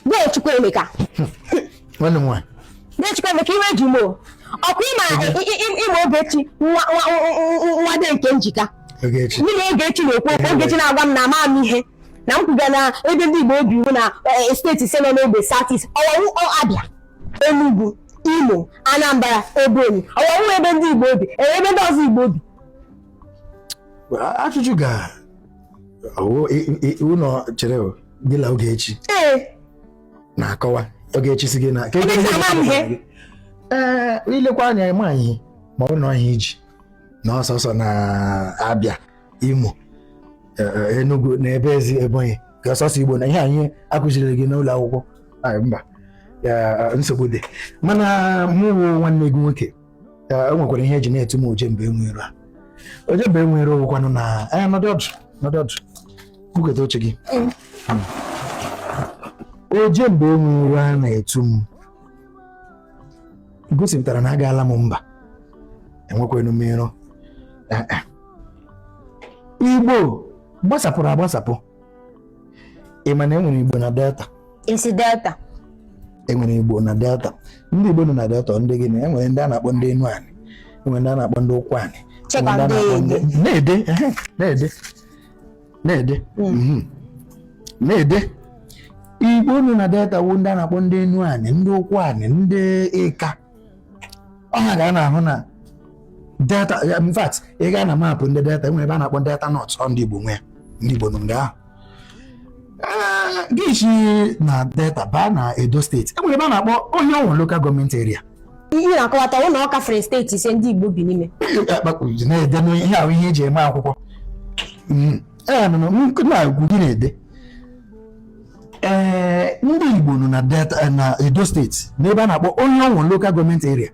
De Chukwuemeka. Nwanne m nwaanyị. De Chukwuemeka iwe ji m o. Ọkwa ịma ịma Ogechi nwa De Nkemjika. Ogechi. Mụ na Ogechi na-ekwu okwu Ogechi na-agwa m na ama m ihe na m kwuga na ebe ndị Igbo bi wụ na e, steeti ise nọ n'ogbe South-East ọ wụ Abia Enugu Imo Anambra Ebonyi ọ wụ ebe ndị Igbo bi ebe ndị ọzọ Igbo bi. Ajụjụ ga ụlọ chere gị na Ogechi na-akọwa Ogechi sị gị na ee ilekwa anya ịma ihe ma ọ nọ ihe i ji na ọ sọsọ na Abia Imo e, e, Enugu na ebe ezi Ebonyi ka ọ sọsọ Igbo nọ ihe anyị akụziri gị n'ụlọ akwụkwọ mba nsogbu dị mana mụ nwanne gị nwoke o nwekwara ihe eji na-etu m ojemba enwe iro a ojemba enwe iro wụkwanụ na anya nọdị ọdụ nọdị ọdụ buketa oche gị ojemba enwe iro a na-etu m gosipụtara na agaala m mba enwekwanụ m iro igbo gbasapụrụ agbasapụ ị ma na enwere igbo na delta ị sị delta enwere igbo na delta ndị igbo nọ na delta ndị gịnị enwere ndị a na-akpọ ndị Enuani enwere ndị a na-akpọ ndị Ụkwụanị Chekwa enwere ndị a na-akpọ ndị- ndị- na-ede ehe, na-ede na-ede mhm. na-ede igbo nọ na delta wụ ndị a na-akpọ ndị Enuani ndị Ụkwụanị ndị Ịka ọ ha ka a na-ahụ na delta in fact ị gaa na maapụ ndị delta enwere ebe a na-akpọ delta north ọ ndị Igbo nwe ya ndị Igbo nọ nga ahụ gị si na delta baa na Edo steeti enwere ebe a na-akpọ Orhionmwon lokal gọọmenti eria ihe na-akọwata wụ na ọ gafere steeti ise ndị Igbo bi n'ime na-ede ihe ahụ ihe eji eme akwụkwọ na-agwa gị na-ede ee ndị Igbo nọ na Delta eh, na Edo steeti n'ebe a na-akpọ Orhionmwon lokal gọọmenti eria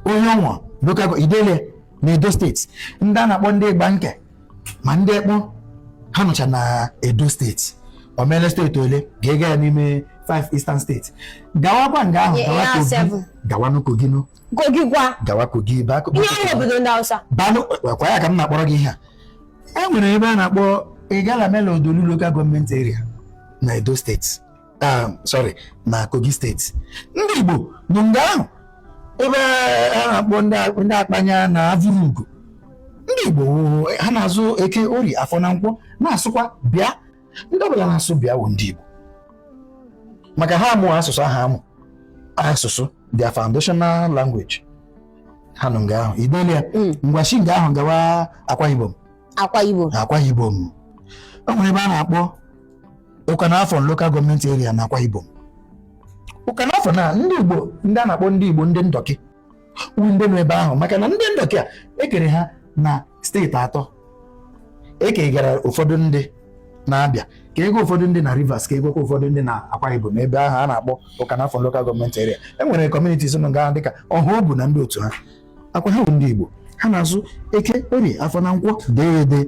Orhionmwon lokal i dele na Edo steeti ndị a na-akpọ ndị Igbanke ma ndị Ekpon ha nọcha na Edo steeti o meele steeti ole ga-ega ya n'ime 5 eastern steeti gawakwa nga ahụ gawa Kogi gawa n'Kogi Kogi kwa. Gawa Kogi ebe akụ. Ihe ọ wụ obodo ndị Hausa. Banụkwa ya ka m na-akpọrọ gị ihe a. E nwere ebe a na-akpọ Igalamela Odolu Local Government Area na Edo steeti. Ah, sorry, na Kogi steeti. Ndị Igbo nọ nga ahụ ebe a na-akpọ ndị Akpanya na Avurugo. Ndị Igbo ha na-azụ eke orie afọ na nkwọ na-asụkwa bịa ndị ọbụla na-asụ bịa wụ ndị Igbo maka ha amụ asụsụ ahụ amụ asụsụ their foundational language ha nọ nga ahụ i deela ya mm. ngwa shi nga ahụ gawa akwa ibom akwa ibom akwa ibom o nwere ebe a na-akpọ Ukanafun local gọọmenti area na akwa ibom Ukanafun na ndị igbo ndị a na-akpọ ndị igbo ndị ndọkị wụ ndị nọ ebe ahụ maka na ndị ndọkị a ekere ha na steeti atọ e kegara ụfọdụ ndị na Abịa kega ụfọdụ ndị na Rivers kegakwa ụfọdụ ndị na Akwa Ibom ebe ahụ a na-akpọ Ukanafun lokal gọọmenti eria e nwere kọmunitis nọ nga dịka Ọhaobu na ndị otu ha akwa ha wụ ndị Igbo ha na-azụ eke orie afọ na nkwọ dee ede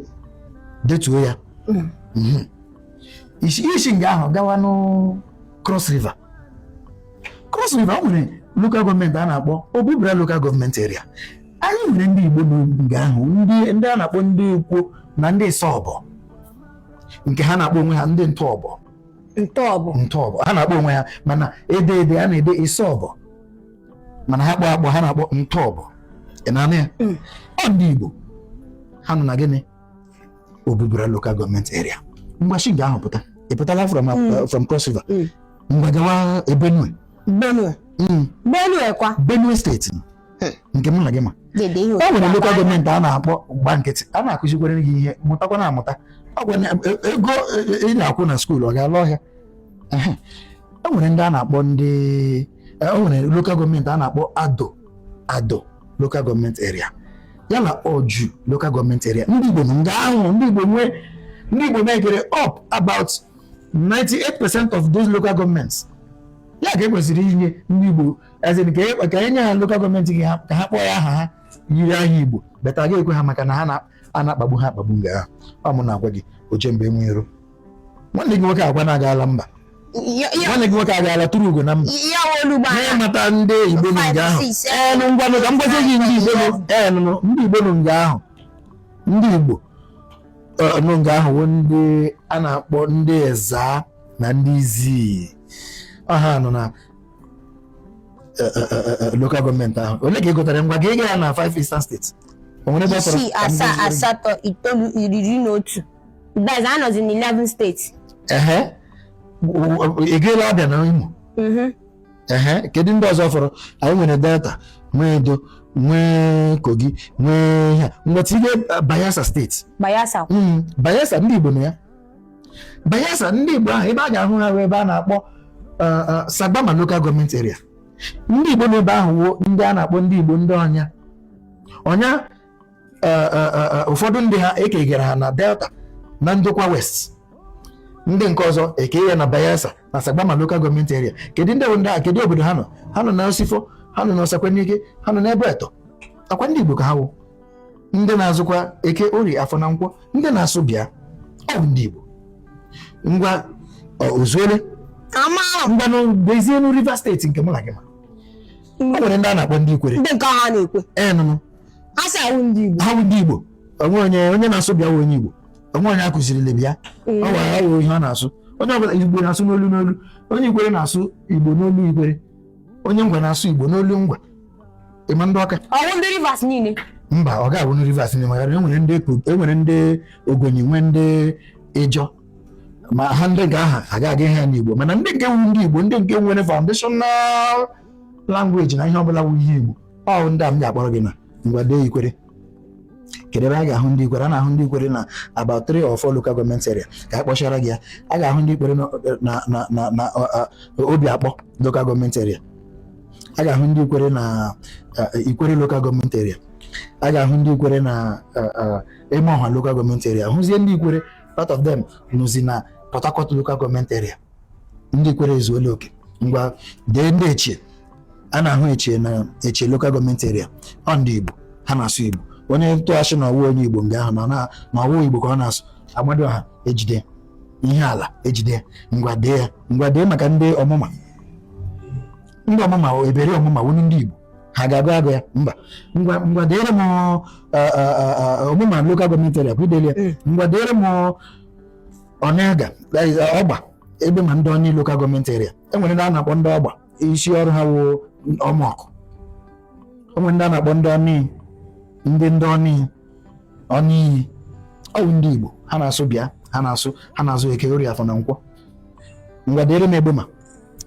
detuo ya hmm. Hmm. i shi nga ahụ gawanụ Cross River Cross River o nwere lokal gọọmenti a na-akpọ Obubra lokal gọọmenti eria anyị nwere ndị Igbo nga ahụ ndị a na-akpọ ndị Ikwo na ndị Isọbọ nke ha na-akpọ onwe ha ndị Ntọọbọ Ntọọbọ Ntọọbọ ha na-akpọ onwe ha mana e dee ede a na-ede Isọbọ mana ha kpọọ akpọ ha na-akpọ Ntọọbọ ị na-anụ ya mm. ọ ndị Igbo ha nọ na gịnị Obubra local gọọmenti area ngwa shi nga ahụ pụta ị pụtala from uh, Mm. from cross river Mm. ngwa gawa eh, benue benue Mm, benue kwa benue steeti Hmm. nke mụ na gị ma dede ihe o nwere otu lokal gọọmenti a na-akpọ gba nkịtị a na-akụzikwere gị ihe mụtakwanụ amụta Ọ gwa na- e- ego e- e- ị na-akwụ na skuul ọ ga-ala ọhịa Ehe. o nwere ndị a na-akpọ ndị o nwere lokal gọọmenti a na-akpọ ado ado lokal gọọmenti eria ya na oju lokal gọọmenti eria ndị Igbo nga ahụ ndị Igbo nwee ndị Igbo mekere up about 98 percent of those local governments ya ka ekwesịrị inye ndị Igbo as in ka e nye ha lokal gọọmenti gị ka ha kpọọ ya aha yiri aha Igbo but a ga-ekwe ha maka na ha na-akpagbu ha akpagbu nga ahụ ọ mụ na-agwa gị oje mba enwe iro nwanne gị nwoke agwa na-aga ala mba nwanne gị nwoke agaala tụrụ ugo na mba mata ndị igbo nọ nga ahụ enụ ngwanụ ka m gwazie gị ndị igbo nọ ndị igbo nọ nga ahụ ndị igbo nọ nga ahụ wụ ndị a na-akpọ ndị Ezza na ndị Izzi ọ ha nọ na lokal gọọmenti ahụ ole ka ị gụtara ngwa gị ịga ya na 5 eastern steeti o nwere ebe ọ fọrọ isii asaa asatọ itoolu iri na otu Guys anọzi na 11 steeti. Ehe. Ị gaala Abịa na Imo? Mhm. Ehe. Kedu ndị ọzọ fọrọ? Anyị nwere Delta, nwee Edo, nwee Kogi, nwee ha. Ngwa tinye Bayelsa steeti. Bayelsa. Mm, Bayelsa ndị Igbo nọ ya. Bayelsa ndị Igbo ahụ ebe a ga-ahụ ha ebe a na-akpọ uh, uh, Sagbama local government area. Ndị Igbo nọ ebe ahụ wụ ndị a na-akpọ ndị Igbo ndị ọnya. Ọnya eh, eh, eh, ụfọdụ ndị ha ekegara ha na delta na ndokwa west ndị nke ọzọ eke ya na bayelsa na sagbama lokal gọọmenti eria kedu ndị bụ ndị a kedu obodo ha nọ ha nọ na osifo ha nọ na osekwenike ha nọ n'abuetor ọkwa ndị igbo ka ha wụ ndị na-azụkwa eke orie afọ na nkwọ ndị na-asụ bịa ọ bụ ndị igbo ngwa ozuole ngwanụ bịazienu rivers steeti nke mụ na gị ma o nwere ndị a na-akpọ ndị ikwere ndị nke ha na-ekwe enụnụ asị awụ ndị Igbo ha wụ ndị Igbo o nwe onye onye na-asụ bịa wụ onye Igbo o nwe onye akụzirili bịa ọ gwara ya ihe ọ na-asụ onye ọbụla Igbo na-asụ n'olu n'olu onye Ikwere na-asụ Igbo n'olu Ikwere onye Ngwa na-asụ Igbo n'olu Ngwa ịma ndị ọka ọwụ ndị Rivers niile mba ọ ga-abụ ndị Rivers niile maka enwere ndị enwere ndị Ogoni nwee ndị Ịjọ ma ha ndị nke ahụ agụghị ha n'Igbo mana ndị nke wu ndị Igbo ndị nke nwere foundational language na ihe ọbụla wu ihe Igbo ọ ndị a m ga-akpọrọ gị na ngwa dee ikwere kedu ebe a ga-ahụ ndị ikwere a na-ahụ ndị ikwere na about three or four local government area ka a kpọchara gị ya a ga-ahụ ndị ikwere na- na na na na ọ- ọ- obio akpọ local government area a ga-ahụ ndị ikwere na uh, ikwere local government area a ga-ahụ ndị ikwere na uh, uh, emohua local government area hụzie ndị ikwere part of them nọzi na port harcourt local government area ndị ikwere ezuola oke ngwa dee ndị echie a na-ahụ echie na echie lokal gọọmenti eria ọ ndị Igbo ha na-asụ Igbo onye ntụghachi na ọwụ onye Igbo nga ahụ na ọwụ Igbo ka ọ na-asụ amadioha ejide ya ala ejide ngwa dee ya ngwa dee maka ndị ọmụma ndị ọmụma eberi ọmụma wụ ndị Igbo ha ga-agọ agọ ya mba ngwa ngwa deere m ọmụma lokal gọọmenti eria ọkwa idele ya ngwa deere m onelga ọgba egbema ndoni lokal gọọmenti eria enwere ndị a na-akpọ ndị ọgba isi ọrụ ha wụ ọmọkụ enwere ndị a na-akpọ ndoni ndị ndoni ọnị iyi ọwụ ndị igbo ha na-asụ bịa ha na-asụ ha na-azụ eke orie afọ na nkwọ ngwa deere m egbema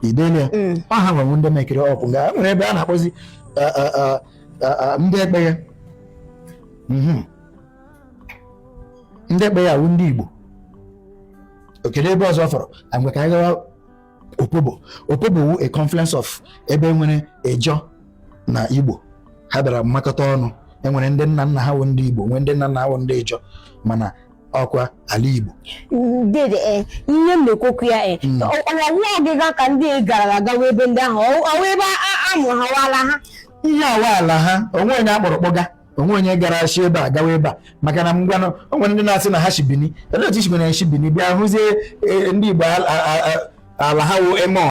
idele ya Mm. ọ ha nwewu ndị mekiri ọkụ nga nwere ebe a na-akpọzi a- a- a- a- a- ndị ekpeye Mhm. ndị ekpeye wụ ndị Igbo ọ kedu ebe ọzọ fọrọ ngwa ka anyị gawa opobo opobo wu a confluence of ebe e nwere Ijaw na Igbo ha bịara mmakọta ọnụ enwere ndị nna nna ha wụ ndị Igbo nwee ndị nna nna ha wụ ndị Ijaw mana ọkwa ala Igbo dede eh, ihe m na-ekwokwu ya eh, hmm. ọwụ ọgịga ka ndị gara aga wee ebe ndị ahụ ọwụ ebe a mụrụ ha wala ha ihe awa ala ha o nwe onye akpọrọ kpọga o nwee onye gara shi ebe a gawa ebe a maka na ngwanụ o nwere ndị na-asị na ha shi Bini ele otu i shi Bini shi Bini bịa hụzie e, ndị Igbo ala ha wụ emo